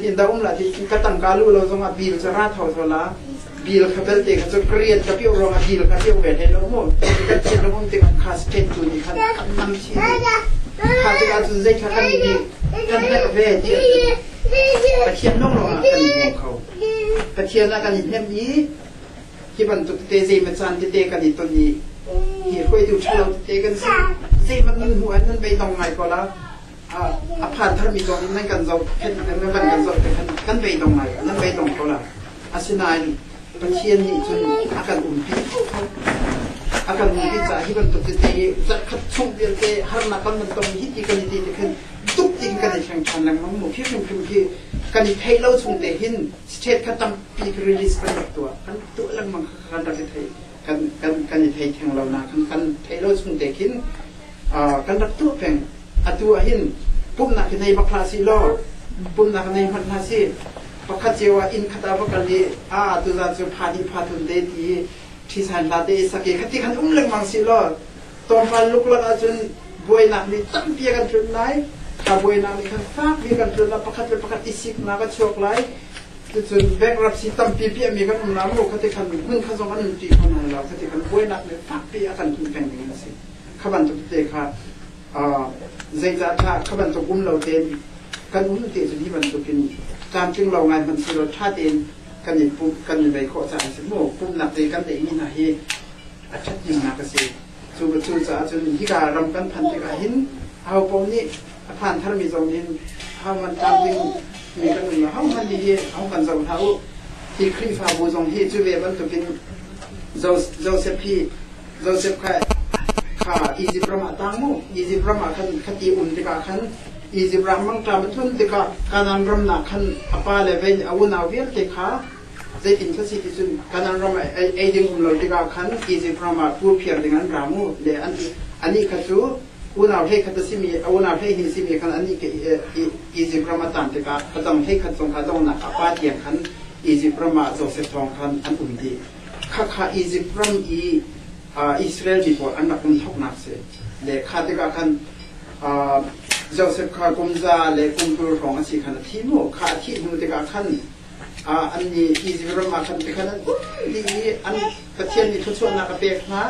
In da um la ti ka tangka lu lo zongah bil cu ra tho zo la bil kha belte kha cu ka rian ka piu ruangah bil kha piu ve hlei lo mu ka thil rum tik an kha pen tu ni khan an nam thi kha tik ah cun zei kha kan ni kan hnek ve ti Pathian nong lo ah kan ni kho Pathian ah kan in hem ni hi bantuk te zei ma chan te te kan i ton ni hi khoi tu thalo te kan si zei man nun hu an nan bei tong ngai ko la a phan tharmi zong in nan kan zoh khen nan van kan zoh khen kan bei dong lai nan bei dong ko la asinain Pathian nih cun a kan umpi a kan umpi caah hi bantuk tete hi zarhkhat chung vialte harnak kan van tong hi ti kan i ti te khin tuk tin kan i thleng than lengmang mu khi hrim hrim hi kan i thei lo chung te hin state kha tampi release kan rak tuah kan tuah lengmang kan rak i thei kan, kan, kan i thei theng lonak kan, kan thei lo chung te khin kan rak tuh peng atu ahhin pumhnak hi nei bak hlah si law pumhnak nei hmanh hlah si pakhat cio ah inn khat ah va kal i a tu zan cu pha hnih pha thun te ti ṭhisan hla te i sake khati khan um lengmang si law tonpal luk lak ahcun buainak nih tampi kan tlun lai ka buainak nih khan fak mi kan tlun lah pakhat le pakhat i siknak a chuak lai Cucun bankruptcy tampi piahmi kan um lai maw kha ti khan hmun kha zong an um ṭi kho nawn lo kha ti kan buainak le fakpi a kan hun peng ding a si. Kha bantuk te kha zeicah dah kha bantuk um lo tein kan um ti cu hi bantukin tlamtling lo ngai hman si lo ṭha tein kan i pumh kan i bei khawh caah a si mu pumhnak zei kan teihmi hna hi a ṭhat himnak a si. Cu cu caah cun hika ram kan phan tikah hin ahopaoh nih a phan tharmi zong in homan tam ding mi kan um homan hi hong kan zoh hna u hi khrihfabu zong hi cu ve bantukin joseph hi joseph kha kha egypt ram ah tang mu egypt ram ah khan khati um tikah khan egypt ram mang ta mathun tikah kanan ram na khan apa le ve awuna vialte kha zeitin sa si ti cun kanan ram ei ding um lo tikah khan egypt ram ah pu phiar ding an ra mu le an ani kha cu unau hleikhat a simi a unau hleihnih a simi khan annih Izipt ram a caan tikah a dang hleikhat zong kha donghnak ah pa tiang khan Izipt ram ah Josef thawng khan an um dih. Khakha Izipt ram i Israel mi pawl an rak um thawknak si. Le kha tikah khan Josef kha kum za le kum kul hrawng a si khan a thi mu. Kha a thih hnu tikah khan an nih Izipt ram ah khan tikhan an um dih i an Pathian nih thluachuahnak a pek hna.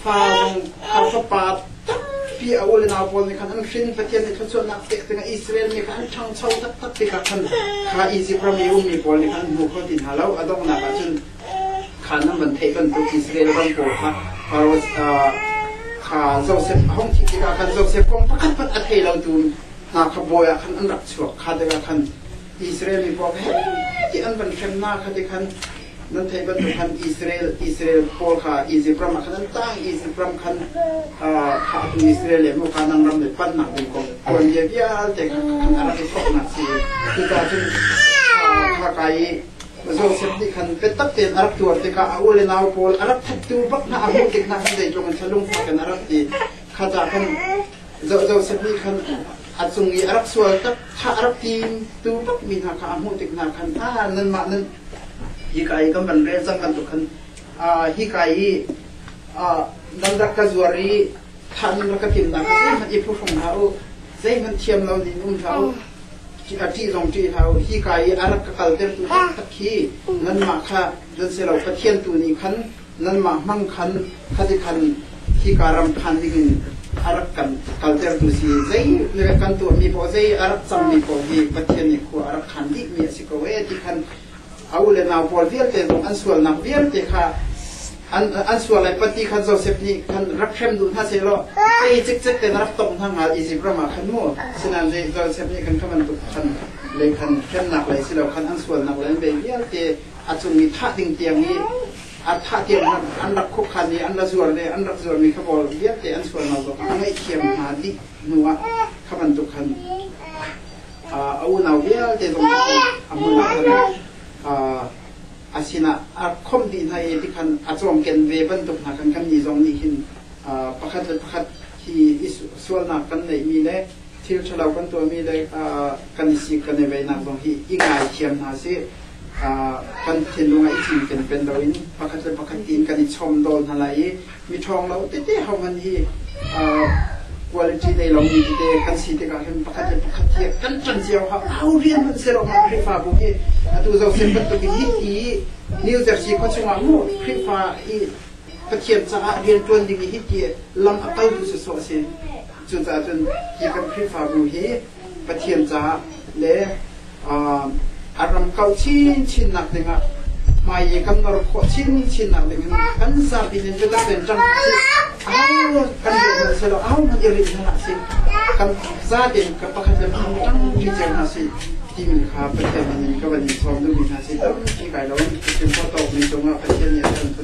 Fa zong fa fapa tampi a ule nau pawl nih khan an hrin. Pathian nih thluachuahnak pek dingah Israel mi kha an ṭhangcho taktak tikah khan kha Izipt ram i ummi pawl nih khan an hmu kho ti hna lo. A donghnak ah cun kha nan van theih bantuk Israel ram pawl kha Faro kha Josef a hung thih tikah khan Josef kong pakhat a thei lotu hna kha bawi ah khan an rak chuak kha tikah khan Israel mi pawl he ti an van hremnak kha ti khan nan theih bantuk khan Israel Israel pawl kha Izipt ram ah khan an tah Izipt ram khan khahtu Israel le muka nan ram le panhnak ding kong tuanbia vialte kha a rak i thawknak si cuka cun khaka i Joseph nih khan biatak tein a rak tuar tikah a ule nau pawl a rak thuptu bak hna a hmuh tik hna khan zeitlung in thalung fakin a rak ti khata khan Joseph nih khan a cung i a rak sual tak thah a rak tim tu bak mi hna kha a hmuh tik hna khan a nan mah nan Hika i kan van rel cang bantuk khan hika i dangdak ka zuar i thahning rak ka tim dah zeihmanh i phuhrum hlah u zeihmanh thiam lo nin um hlah u ṭih zong ṭih hlah u hika i a rak ka kaltertu taktak khi nanmah kha don se lo Pathian tu nih khan nanmah hmang khan khati khan hika ram khan dingin a rak kan kaltertu si zei na kan tuahmi paoh zei a rak cangmi paoh hi pathian nih khua a rak khan dihmi a si ko e ti khan a u le nau pawl vialte zong an sualnak vialte kha an an sual lai pati khan Joseph nih khan rak hrem duh hna se law ei cikcek te na rak tong hna ngal Egypt ram ah khan mu sinan je Joseph nih khan khan bantuk khan lei khan hremnak lei si lo khan an sualnak lei vialte a cung i thah ding tiang i a thah tiang an rak khuakhan i an la zuar le an rak zuarmi kha bol vialte an sualnak zong a ngaihthiam hna dih hnu ah kha bantuk khan a unau vialte zong cu a hmun ah a sinah a khom dih hna i tikhan a cawmken ve bantuk hna kan kannih zong nih hin pakhat le pakhat hi sualnak kan neihmi le thil ṭhalo kan tuahmi le kan i sik kan i veihnak zong hi i ngaithiam hna sih. kan thinlung ah i cinken pen loin pakhat le pakhat tiin kan i chawmdawl hna lai i miṭhawng lo tete hohman hi quality nei lomi tete kan si tikah hin pakhat le pakhat hi kan ṭan cio ha au rian man se lo ma Khrihfabu hi atu zoh sen bantuk hi i New Jersey khua chungah mu Khrihfa i Pathian caah rianṭuan ding i hiti lam a kaltu sawsawh a si. Cucaah cun hi kan Khrihfabu hi Pathian caah le a ram kau chinchin nak ding ah hmai i kan nor khawh chinchin nak ding in kan zapi nih cu kan len cang au kan i rel silo au kan i rel hna si kan zate ka pakhat le pakhat tang ti cer hna si ti mi kha Pathian nih ka van i sawm duhmi hna si tampi kai lo in Pathian kho tawk mi cung ah Pathian nih a kan